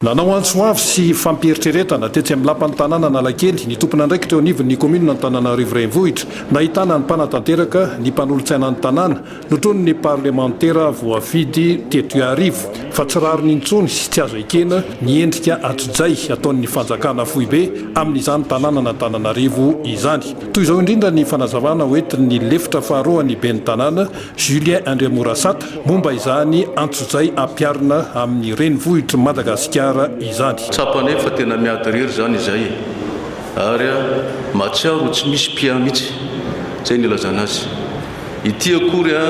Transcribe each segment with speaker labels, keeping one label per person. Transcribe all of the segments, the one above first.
Speaker 1: Nanao antso avo sy fampieritreretana tetsy amin'ny lapan'ny tanàna Analakely ny tompon'andraikitra eo anivon'ny kaominina Antananarivo Renivohitra, nahitana ny mpanatanteraka, ny mpanolotsainan'ny tanàna, notronin'ny parlemantera voafidy teto Iarivo, fa tsy rariny intsony sy tsy azo ekena ny endrika atsojay ataon'ny fanjakana foibe amin'izany tanànan'Antananarivo izany. Toy izao indrindra ny fanazavana hoentin'ny lefitra faharoan'ny ben'ny tanàna Julien Andriamorasata, momba izany antsojay ampiharina amin'ny renivohitr'i Madagasikara izany. Tsapa anay fa tena
Speaker 2: miady irery izany izay e! ary mahatsiaro ho tsy misy mpiahy mihitsy, izay no ilazana azy. Ity akory a!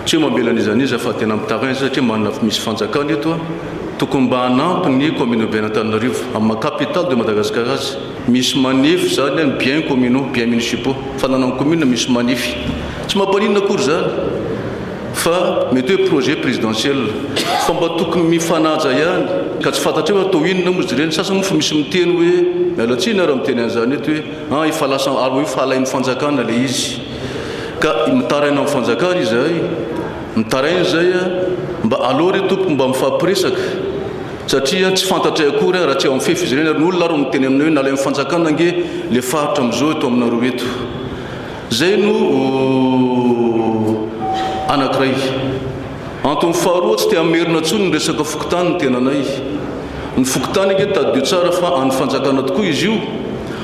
Speaker 2: tsy hoe mamela an'iza an'iza fa tena mitaraina izay satria manana fo misy fanjakana eto a! tokony mba hanampy ny Commune Urbaine Antananarivo, amin'ny maha Capitale de Madagascar azy. Misy manif zany an, bien communaux, bien municipaux, fananan'ny commune misy manif. Tsy mampaninona akory zany fa mety hoe projet présidentiel fa mba tokony mifanaja ihany ka tsy fantatreo ary toa inona moa izy ireny. Sasany moa fa misy miteny hoe, miala tsiny ary miteny an'izany eto hoe, an efa lasa ary efa alain'ny fanjakana ilay izy ka mitaraina amin'ny fanjakana izahay, mitaraina izay an, mba aleo re tompoko mba mifampiresaka. Satria tsy fantatray akory aho raha tsy ao amin'ny fefy izy ireny ary ny olona ary no miteny aminay hoe nalain'ny fanjakana ange le faritra amin'izao eto aminareo eto. Zay no anankiray. Antony faharoa tsy te hamerina tsony ny resaka fokontany ny tenanay. Ny fokontany ange tadidio tsara fa an'ny fanjakana tokoa izy io.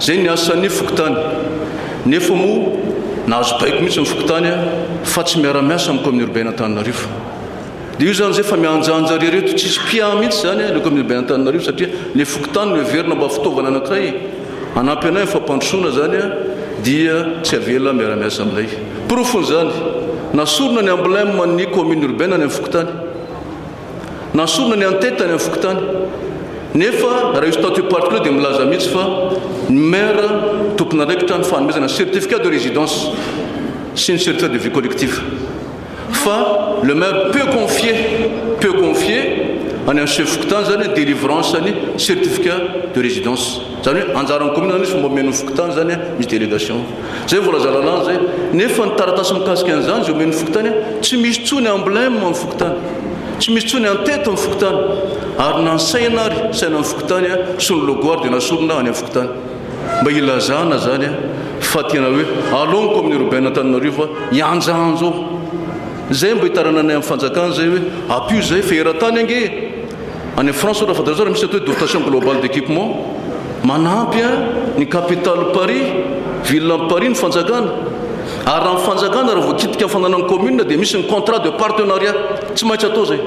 Speaker 2: Izay ny asan'ny fokontany. Nefa moa nahazo baiko mihitsy ny fokontany fa tsy miara-miasa amin'ny Kaominina Urbain'Antananarivo. Dia io izany izay fa mihanjanja ry reto, tsisy mpiahy mihitsy izany ilay Kaominina Urbain'Antananarivo satria ny fokontany no heverina mba fitaovana anankiray hanampy anay amin'ny fampandrosoana izany dia tsy avela miara-miasa aminay. Porofon'izany, nasorina ny emblème ny Kaominina Urbaine any amin'ny fokontany. Nasorina ny an'Teta tany amin'ny fokontany. Nefa raha io statut particulier dia milaza mihitsy fa ny Maire tompon'andraikitra ny fanomezana ny certificat de résidence sy ny certificat de vie collective. Fa le Maire peut confier, peut confier, any amin'ny Chef fokontany izany ny délivrance ny certificat de résidence. Izany hoe anjaran'ny kaominina izany izy fa mba omen'ny fokontany izany an, misy délégation. Izay no voalaza lalàna izay. Nefa ny taratasy mikasika an'izany izay omen'ny fokontany an, tsy misy intsony emblème amin'ny fokontany. Tsy misy intsony en-tête amin'ny fokontany. Ary na ny saina ary, sainan'ny fokontany an, sy ny logo ary dia nasorina any amin'ny fokontany. Mba hilazana izany an, fa tena hoe alao ny kaominina urbaine Antananarivo an, hihanjanja ao. Izay mba hitarananay amin'ny fanjakana izay hoe ampio izay fa eran-tany ange e! Any France ohatra fantaro tsara misy atao hoe dotation globale d'équipement, manampy a ny capitale Paris, ville ny Paris ny fanjakana, ary raha ny fanjakana raha voakitika ny fananany commune dia misy ny contrat de partenariat, tsy maintsy atao zay,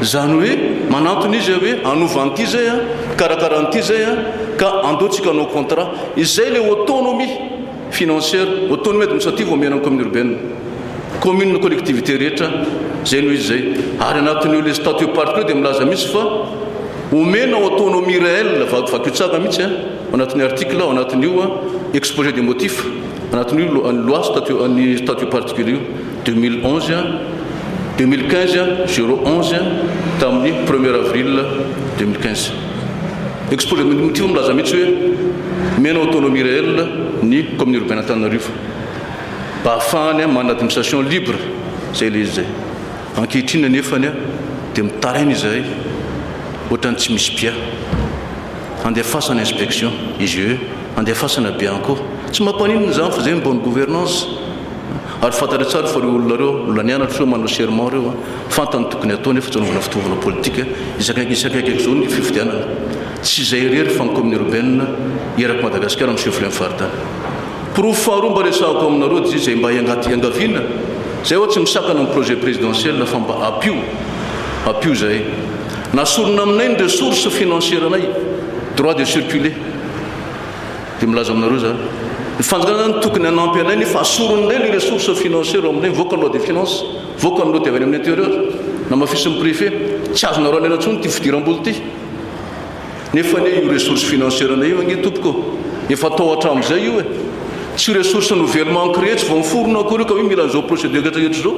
Speaker 2: zany hoe manantona izy hoe hanova an'ity zay a, hikarakara an'ity zay a, ka andao tsika hanao contrat, izay le autonomie. Financier, Otony mety misy aty vao omena ny commune urbaine. Commune ny collectivité rehetra, zay no izy zay. Ary anatin'io le statut parc io dia milaza mihitsy fa omena ho autonomie réelle, vaky vakio tsara mihitsy an, ao anatin'ny article, ao anatin'io exposé des motifs, anatin'io ny loi statut, ny statut particulier io. Deux mille onze, deux mille quinze, zéro onze, tamin'ny premier avril deux mille quinze. Exposé de motifs milaza mihitsy hoe omena autonomie réelle ny commune urbaine Antananarivo mba hahafahany manana administration libre, izay ilay izy izay. Ankehitriny anefa dia mitaraina izahay ohatran'ny tsy misy bia. Andefasana inspection, IGE, andefasana bianco. Tsy mampaninona izany fa izay ny bonne gouvernance. Ary fantatrao tsara fa ireo olona ireo, mbola nianatra ireo manao serment ireo a! Fantany tokony atao nefa tsy anaovana fitaovana politika isakaiky isakaiky aky izao ny fifidianana. Tsy izay irery fa ny commune urbaine eraky Madagascar no chef lieu-n'ny faritany. Porofo faharoa mba resahako aminareo dia izay mba hiangati hiangaviana izay ho'a tsy misakana ny projet présidentiel fa mba apio apio izay na sorona aminay ny ressource financière-nay, droit de circuler. Dia milaza aminareo za, ny fanjakana zany tokony hanampy anay nefa asoriny indray ny ressource financière ao aminay, mivoaka ny loi de finance, mivoaka ny loi dia avy any amin'ny intérieur, namafisin'ny préfet, tsy azonareo alaina intsony ity fidiram-bola ity. Nefa anie io ressource financière anay io ange tompoko ô, efa atao hatramin'izay io e. Tsy ressource nouvellement créé, tsy vao niforona akory io ka hoe mila an'izao procédure rehetra izao.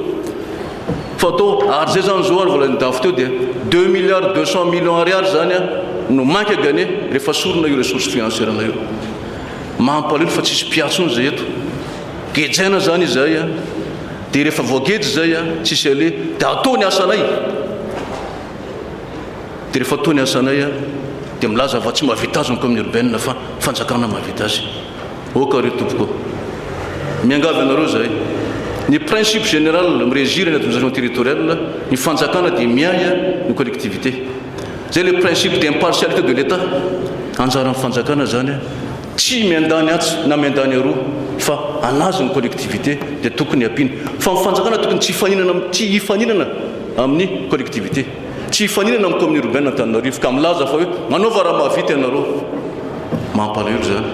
Speaker 2: Photo, Ary zay zany zao ary vola ny dafy teo dia deux milliards deux cent millions ariary zany no manque à gagner rehefa sorona io ressource financière nao io. Mampalelo fa tsisy mpiahy tsony zay eto. Gejaina zany izay dia rehefa voageja izay tsisy aleha dia atao ny asanay. Dia rehefa atao ny asanay dia milaza fa tsy mahavita azy ny commune urbaine fa fanjakana mahavita azy. Ok ry tompoko ô! Miangavy anareo izahay. Ny principe général mi-regir ny administration territoriale, ny fanjakana dia miahy ny collectivité. Izay ilay principe d'impartialité de l'Etat. Anjaran'ny fanjakana izany tsy miandany atsy na miandany aroa fa hanazy ny collectivité dia tokony hampiany. Fa ny fanjakana tokony tsy hifaninana tsy hifaninana amin'ny collectivité. Tsy hifaninana amin'ny kaominina irobena Antananarivo ka milaza fa hoe manaova raha mahavita ianareo. Mampalahelo izany.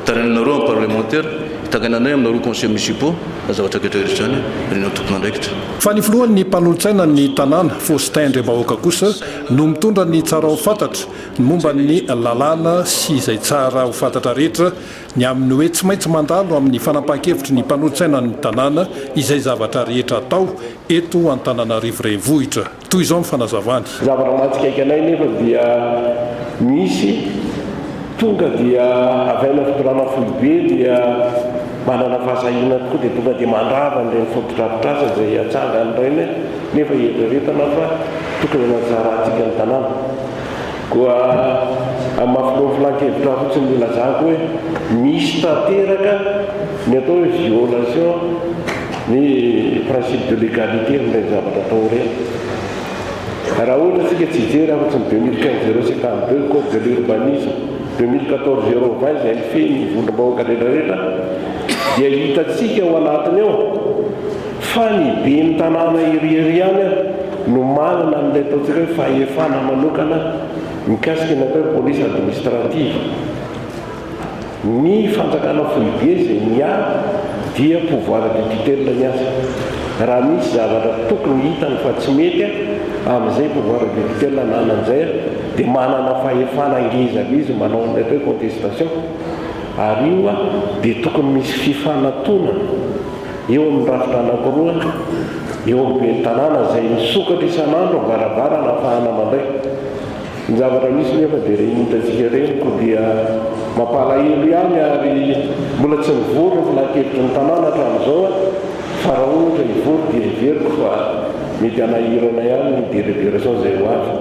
Speaker 2: Tarihananareo amin'ny parlemantera, hitangainanay aminareo conseillers municipaux izany zavatra rehetra rehetra izany ary ny antokon'andraikitra. Fa ny filohan'ny
Speaker 1: mpanolotsaina ny tanàna, Faustin Andriambahoaka kosa no mitondra ny tsara ho fantatra ny momba ny lalàna sy izay tsara ho fantatra rehetra ny amin'ny hoe tsy maintsy mandalo amin'ny fanapahan-kevitry ny mpanolotsaina ny tanàna izay zavatra rehetra atao eto Antananarivo Renivohitra. Toy izao ny fanazavany. Zavatra mahatsikaiky
Speaker 3: anay nefa dia misy tonga dia avy any amin'ny fitondrana foibe dia manana fahasahiana tokoa dia tonga dia mandrava an'ireny fotodrafitrasa izay atsangan'ireny nefa hieritreretana fa tokony hanatsara antsika ny tanàna. Koa amin'ny maha filohan'ny filan-kevitra fotsiny no ilazako hoe misy tanteraka ny atao hoe violation Ny principe de l'egalite amin'ireny zavatra atao ireny. Raha ohatra isika tsy hijery afa-tsy ny deux mille quinze zéro sept amby ireo, code de l'urbanisme, deux mille quatorze zéro vingt izay mifehy ny vondrom-bahoaka rehetrarehetra dia hitantsika ao anatiny ao fa ny ben'ny tanàna iry iry ihany no manana an'ilay ataontsika hoe fahefana manokana mikasika ny atao hoe police administrative. Ny fanjakana foibe izay miahy dia pouvoir de tutelle ny azy. Raha misy zavatra tokony hitany fa tsy mety amin'izay pouvoir de tutelle ananany izay dia manana fahefana ngeza be izy manao an'ilay atao hoe contestation ary io dia tokony misy fifanatonana eo amin'ny rafitra anankiroa eo amin'ny ben'ny tanàna izay misokatra isan'andro am-baravarana ahafahana mandray Ny zavatra misy nefa dia ireny hitantsika ireny koa dia mampalahelo ihany ary mbola tsy nivory ny filankevitry ny tanàna hatramin'izao fa raha ohatra hivory dia heveriko fa mety hanahirana ihany ny délibération izay ho avy.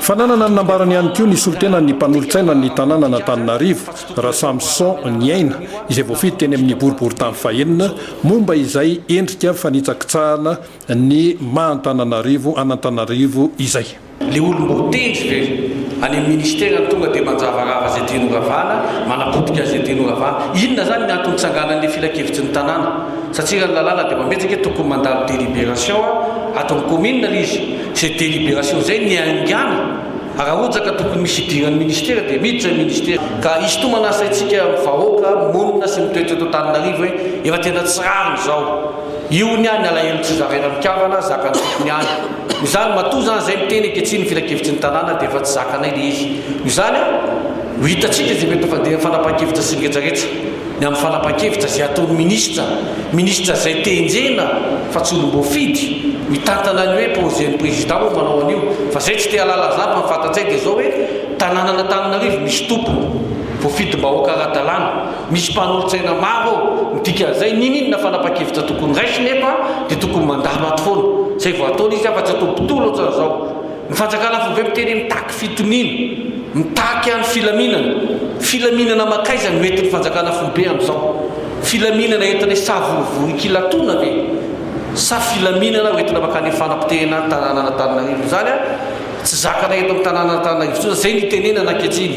Speaker 3: Fananana
Speaker 1: ny nambarany ihany koa ny solontenan'ny mpanolotsainan'ny tanànan'Antananarivo, Rasamison Niaina, izay voafidy teny amin'ny boriborintany fahenina, momba izay endrika fanitsakitsahana, ny maha Antananarivo an'Antananarivo izay. Le olom-botendry
Speaker 4: ve any amin'ny ministera no tonga dia manjavarava izay tiany horavana, manapotika an'izay tiany horavana? Inona izany ny antony nitsanganan'ilay filankevitry ny tanàna? Satria raha ny lalàna dia mametraka hoe tokony mandalo délibération ato amin'ny commune ilay izy. Izay délibération izay no niaingàna. Raha ohatra ka tokony misy hidiran'ny ministera dia miditra ny ministera. Ka hisintomana ny saintsika vahoaka monina sy mitoetra eto Antananarivo hoe efa tena tsy rariny izao. Io ny ahy ny alahelo tsy zaraina mikambana zakan'ny tompony ihany no izany matoa izany izay miteny ankehitriny ny filankevitry ny tanàna dia efa tsy zakanay ilay izy no izany an no hitantsika izay mety ho fandehan'ny fanapahan-kevitra sy ny retraretra ny amin'ny fanapahan-kevitra izay ataon'ny ministra ministra izay tenjena fa tsy olom-boafidy mitantana ny hoe projet ny président moa manao an'io fa izay tsy te halala izany fa ny fantatsay dia izao hoe tanànan'Antananarivo misy tompony voafidim-bahoaka ara-dalàna Misy mpanolotsaina maro ao ny dikan'izay, niniana fanapa-kevitra tokony raisina eto dia tokony mandalo ato foana, izay vao ataony izy afa-tsy atao mpitory ohatran'izao. Ny fanjakana vao ve mitery mitaky fitoniana, mitaky ihany filaminana. Filaminana mankaiza no entin'ny fanjakana foibe amin'izao? Filaminana entinay savorovoro ikilatona ve? Sa filaminana hoentina mankany amin'ny fanapotehina ny tanànan'Antananarivo? Izany tsy zakana eto amin'ny tanànan'Antananarivo intsony izany, izay no itenenana ankehitriny.